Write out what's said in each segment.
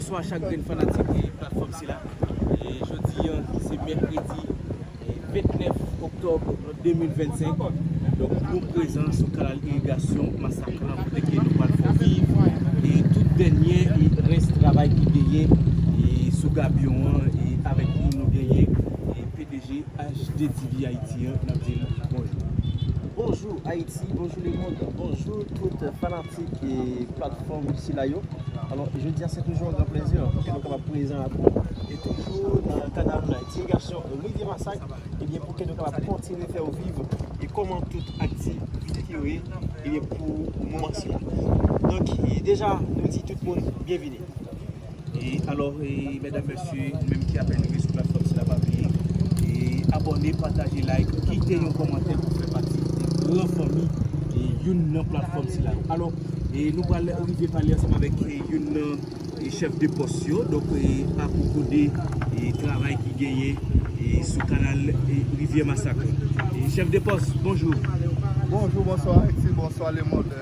Bnswa chak grenn fanatik platfòm sila jodi an se mèkredi 29 oktòb 2025 donk nou prezan sou kanal irigasyon masaklan kote nou pral fè viv tout dènyè rès travay ki genyen sou gabyon an e avèk nou nou genyen pdg HDTV Haïti an nap dil bonjou. Bonjou Ayiti, bonjou lemond, bonjou tout fanatik. Fanatik e platfòm sila yo. Alò, jodi a se toujou yon gran plezi pou ke nou kapab prezan ak ou e toujou nan kanal nou la. Ti gason Rivyè Masak, ebyen pou ke nou kapab kontinye fè ou viv e kòman tout aktivite yo ye ebyen pou moman sila. Donk, deja nou di tout moun byenvini. Alor medam mesye nou menm ki apen rive sou platfom sila pa bliye abone pataje like kite yon komante pou fè pati gran fanmi youn nan platfom sila alor nou pral rive pale ansanm avek youn nan chef de pos yo donk apoko de travay ki genyen sou kanal rivye masak chef de pos bonjou bonjou bonswa eti bonswa le mond.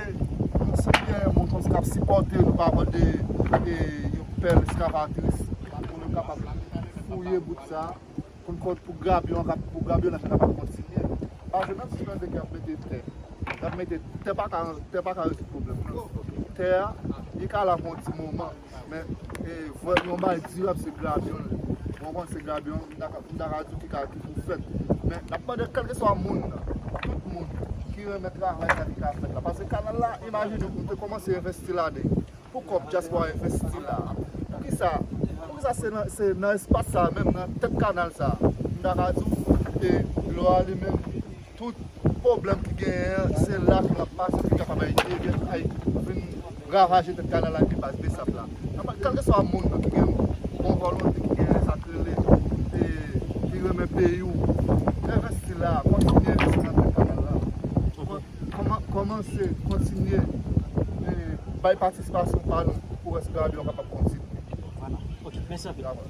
Tout se gen yon motos kap sipòte nou pa mande yon pèl eskavatris pou nou kapab fouye bout sa pou n konn pou grabyon an pou grabyon an kapab kontinye paske menm si mande kap mete tè kap mete tè pa ka rezoud pwoblèm nan tè a li ka la pou yon ti moman Men vòlè yon bagay dirab se grabyon li. Mwen konn se grabyon, m ta ka di w ki ka ki pou fèt. Men n ap mande kèlkeswa moun nan, tout moun ki renmen travay la ki ka fèt la. Pase kanal la imajine w nou te kòmanse envesti ladan l. Pou kòb dyaspora envesti la a. Poukisa, poukisa se nan se nan espas sa a menm nan tèt kanal sa a m ta ka di w e dlo a li menm Tout pwoblèm ki genyen an, se la ke l ap pase pou l kapab Ayiti e byen Ayiti vin ravaje tèt kanal la epi baz Bsap la. Kèlkeswa moun nan ki gen bon volonte, ki gen sa k rele, ki renmen peyi w, envesti la, kontinye envesti nan tèt kanal la. Kòmanse, kontinye bay patisipasyon pa nou pou wè si gravy la kapab kontinye. Vwala. Ok. Mèsi anpil.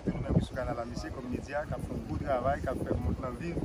Nou menm sou kanal la mesi kom media kap fè yon gwo travay kap fè mond lan viv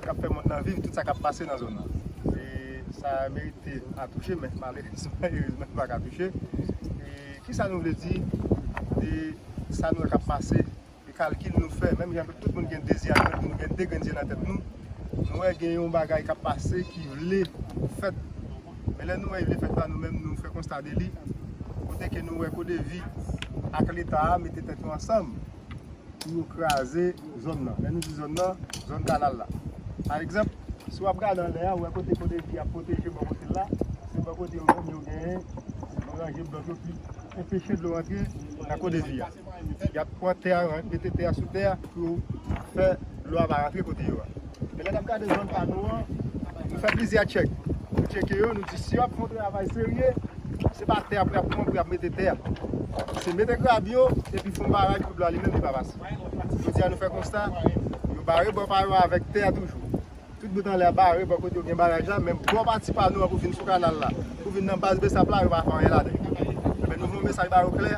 kap fè mond lan viv tout sa kap pase nan zòn nan e sa merite a touche men malerezman erezman li paka touche e kisa nou vle di de sa nou wè kap pase e kalkil nou fè menm jan tout moun gen de zye nan tèt nou gen de grenn zye nan tèt nou nou wè gen yon bagay kap pase ki vle fèt Men lè nou wè Ivyefèt la nou menm nou fè konsta de li, kote ke nou wè CODEVI ak leta a mete tèt yo ansanm pou yo kraze zòn nan. Lè nou di zòn nan, zòn kanal la. Pa egzanp, si w ap gade anlè a, ou wè kote CODEVI ap pwoteje bò kote l la, se bò kote yo menm yo genyen, yo ranje blòk yo pou enpeche dlo rantre nan CODEVI a. y ap pran tè a, y ap mete tè a sou tè a pou yo fè dlo a pa rantre kote yo a. Men lè n ap gade zòn pa nou an, nou fè plizyè tchèk. Nou tcheke yo, nou di si yo ap fè yon travay serye, se pa tè ap pran pou y ap mete tè a. Se mete grab yo epi fè yon baraj pou dlo a li menm li pa pase. Jodi a nou fè konsta, yo bare bò pa yo avèk tè a toujou. Tout bout anlè a bare bò kote yo gen baraj la, men bò pati pa nou an pou vin sou kanal la, pou vin nan baz bsap la, yo pa fè anyen ladan l. Enben nou voye yon mesaj ba yo klè,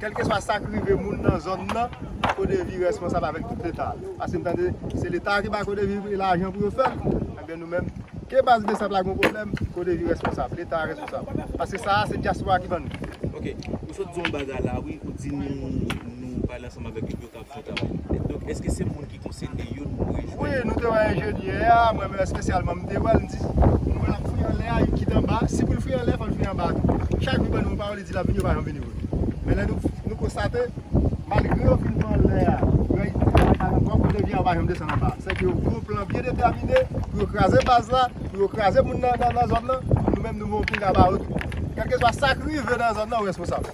kèlkeswa sa k rive moun nan zòn nan, CODEVI responsab avèk tout leta a. Paske m tande se leta a ki bay CODEVI lajan pou yo fè l, enben nou menm, ke baz bsap la gen yon pwoblèm, CODEVI responsab, leta a responsab. Paske sa a se dyaspora ki ban nou. Ok, ou sot di yon bagay la wi, ou di nou pale ansanm avèk yo pou yo ka. Bon travay. Donk eske se moun ki konsene yo nou dwe jwenn? Wi, nou te wè enjenyè a, mwen menm espesyalman m te wè l, m di, nou wè l ap fouye anlè a, li kite anba, si pou l fouye anlè fò l fouye anba tou. Chak jou l ban nou yon pawòl, li di l ap vini, yo pa janm vini vre. Men lè nou konstate, malgre yo fin fè anlè a, yo al travay kay ankò, kote vye a yo pa janm desann anba. Sèke yo gen yon plan byen detèmine pou yo kraze baz la, pou yo kraze moun nan zòn nan, nou menm nou gen yon pinga ba yo tou. Kèlkeswa sa k rive nan zòn nan, ou responsab.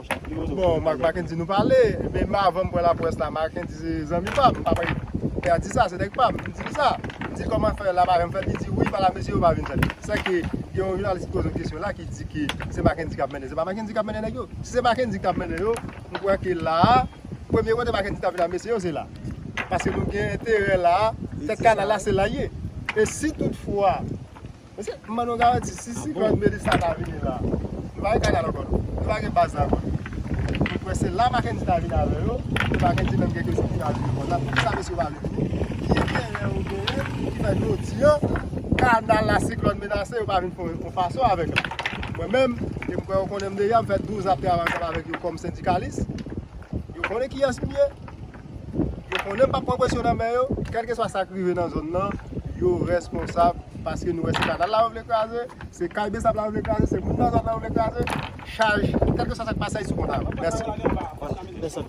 Bon Mackendy nou pale men avan m pran lapwès la Mackendy se zanmi pa m e atis la se nèg pa m, m di l sa m di l kòman fè la Mackendy fè l li di wi pa la mesye yo pa vin fè l sè ke gen yon jounalis ki poze m kesyon la ki di ke se Mackendy k ap mennen se pa Mackendy k ap mennen nèg yo si se Mackendy k t ap mennen yo m kwè ke la a premye kote Mackendy t ap vin ak mesye yo se la paske nou gen enterè la a tèt kanal la se la l ye e si tout fwa. Mesye, m ban nou garanti, si siklòn Melissa ta vini la, nou pa gen kanal ankò non. Nou pa gen baz la ankò non. Mwen kwè se la Mackendy ta vini avè yo, pou Mackendy menm gen kesyon pou ta vini repon la, poukisa mesye yo pa vle vini? Ki enterè yo genyen ki fè jodi an, kanal la siklòn menase yo pa vin fè yon fason avèk la? Mwen menm, e m kwè yo konnen m deja, m fè 12 an ap travay ansanm avèk yo kòm sendikalis, yo konnen kiyès m ye. Yo konnen m pap pran presyon nan men yo, kèlkeswa sa k rive nan zòn nan, yo rèsponsab paske nou wè se kanal la yo vle kraze, se kay besap la yo vle kraze, se moun nan zòn nan yo vle kraze, chaj, kèlkeswa sa k pase a y sou kont a yo. Mèsi.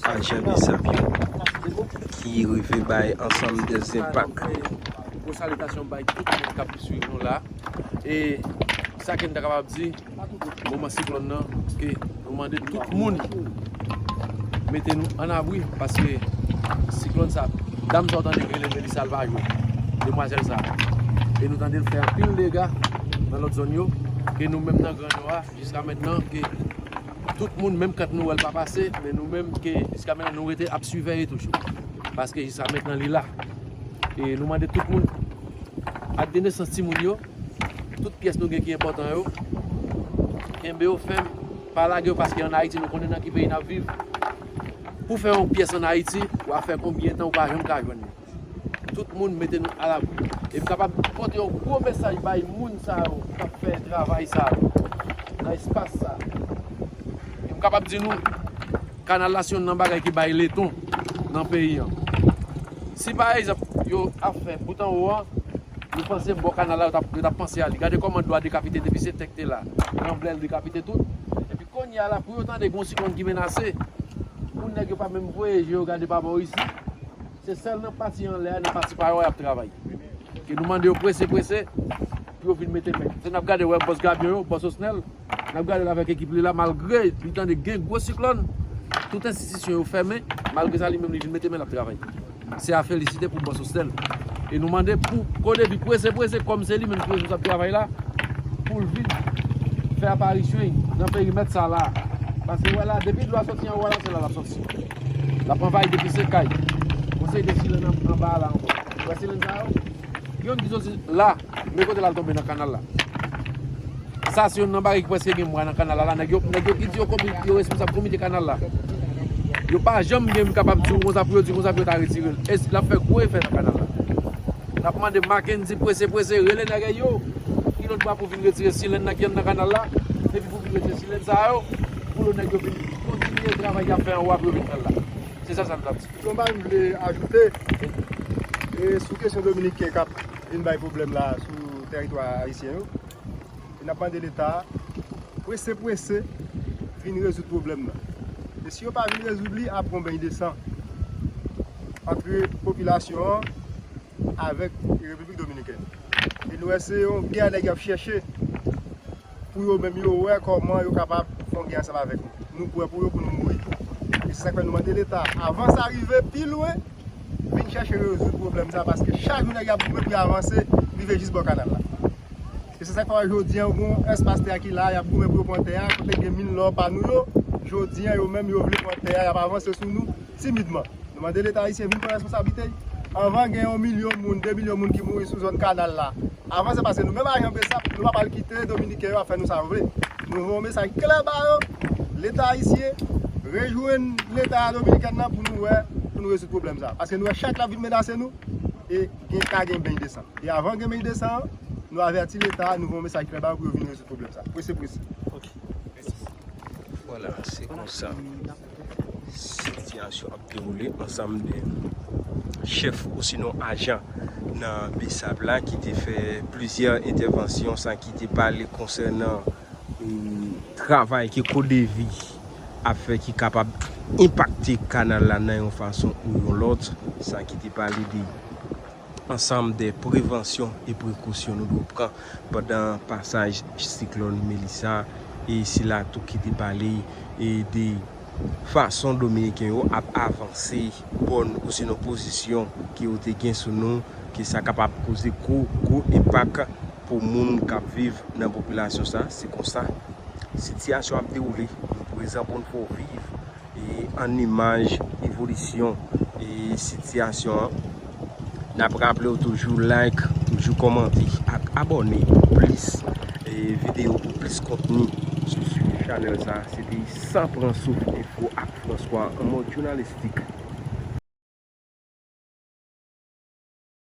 ajan bizap yo ki rive bay ansanm de zenpak. Gwo salitasyon bay tout moun kap swiv nou la e sa kem ta kapab di moman siklòn nan ke nou mande tout moun mete nou an abri paske siklòn sa dam sa ou tande ki rele Melisa l pa jwe demwazèl sa e nou tande l fè anpil dega nan lòt zòn yo e nou menm nan gran nò a jiska mentnan ke Tout moun menm kant nou wèl pa pase men nou menm ke jiska menen nou rete ap siveye toujou paske jiska menten li la e nou mande tout moun ak de nesans ti moun yo tout pyès nou gen ki enpòtan yo kenbe yo fèm pa lage yo paske an ayiti nou konnen nan ki peyi nap viv pou fè yon pyès an ayiti wafè konbyen tan ou pa janm ka jwenn li. Tout moun mete nou alabri e m kapab pote yon gwo mesaj bay moun sa yo ki ap fè travay sa yo nan espas sa a. E m kapab di nou, kanal la se yonn nan bagay ki bay leton nan peyi an. Si pa egzanp, yo ap fè bout anwo an, nou panse bò kanal la yo t ap panse a li. Gade kòman dlo a dekapite depi se tè ki te la, ranblè l dekapite tout. Kounye a la pou yo tande gon siklòn ki menase pou nèg yo pa menm voye je yo gade pa bò isi se sèl nan pati anlè a nan pati pa yo a yap travay ke nou mande yo prese prese pou yo vin mete men se nap gade wè bòs Gabyon yo bòs Osnel nap gadel avèk ekip li la malgre li tande gen gwo siklòn tout enstitisyon yo fèmen malgre sa li menm li vin mete men lap travay. Se a felisite pou bon Sosthène. E nou mande pou Kodevi prese prese kòm se li menm ki responsab travay la pou l vin fè aparisyon l nan perimèt sa la. Paske wè la depi dlo a soti anwo a la se la l ap soti. L ap anvayi depi se kay. Bon se de silenn anba a la ankò. Wè silenn sa yo? Yon ki soti la. Men kote lal tonbe nan kanal la. Sa se yonn nan bagay ki preske gen mwa nan kanal la. Nèg yo ki di yo responsab komite kanal la. Yo pa janm gen kapab di ou konsa pou yo di konsa pou yo ta retire l. E lap fè gwo efè nan kanal la. Nap mande Mackendy prese prese rele nèg yo. Ki lòt bwa pou vin retire silèn nan ki anndan kanal la. E pi pou vin retire silèn sa yo. Pou lòt nèg yo vin kontinye travay yap fè anwa pou yo vin fè l la. Se sa sa nou tap di. Yon bagay m vle ajoute. E sou kesyon dominiken kap. Vin bay pwoblèm la sou tèritwa ayisyen yo e nap mande leta prese prese vin rezoud pwoblèm nan e si yo pa vin rezoud li ap gon beny de san antre popilasyon an avèk repiblik dominikèn e nou wè se yon gè nèg yo ap chèche. Pou yo menm yo wè kòman yo kapab fon gè ansanm avèk nou. Nou pwè pou yo pou nou mouri tou. E se sak fè nou mande leta avan sa rive pi lwen vin chèche rezoud pwoblèm sa paske chak jou nèg ap goumen pou yo avanse rive jis bò kanal la. E se sak fè wè jodi an gon espas tè a ki la yap goumen pou yo pran tè a kote gen min lò pa nou yo jodi an yo menm yo vle pran tè a yap avanse sou nou timidman. Nou mande leta ayisyen vin pran responsablite y avan gen yon milyon moun 2 milyon moun ki mouri sou zòn kanal la. Avan se paske nou menm ajan bsap nou pa pral kite dominiken yo ap fè nou sa yo vle. Nou voye yon mesaj klè ba yo, leta ayisyen rejwenn leta dominikèn nan pou nou wè, pou nou rezoud pwoblèm sa. Paske nou wè chak lap vin menase nou e gen ka gen beny de san. E avan gen beny de san an, nou avèti leta a, nou voye yon mesaj klè ba yo pou yo vin rezoud pwoblèm sa. Prese prese. Ok. Mèsi. Vwala se konsa. Sitiyasyon ap dewoule ansanm de chèf osinon ajan nan Besap la ki te fè plizyè entèvansyon san ki te pale konsènan travay ke CODEVI ap fè ki kapab enpakte kanal la nan yon fason ou yon lòt san ki te pale de Ansanm de prevansyon e prekosyon nou dwe pran pandan pasaj siklòn Melissa e sila tou ki te pale e de fason Dominiken yo ap avanse bòn osinon pozisyon ke yo te gen sou nou ke sa kapab koze gwo gwo enpak pou moun kap viv nan popilasyon sa se konsa sitiyasyon ap dewoule nou prezan pou n fè w viv. An imaj evolisyon sitiyasyon an, n ap raple w toujou like, toujou kòmante ak abòne pou plis videyo, pou plis kontni sou chanèl sa. Se te San Pran Souf Enfo ak François an mòd jounalistik.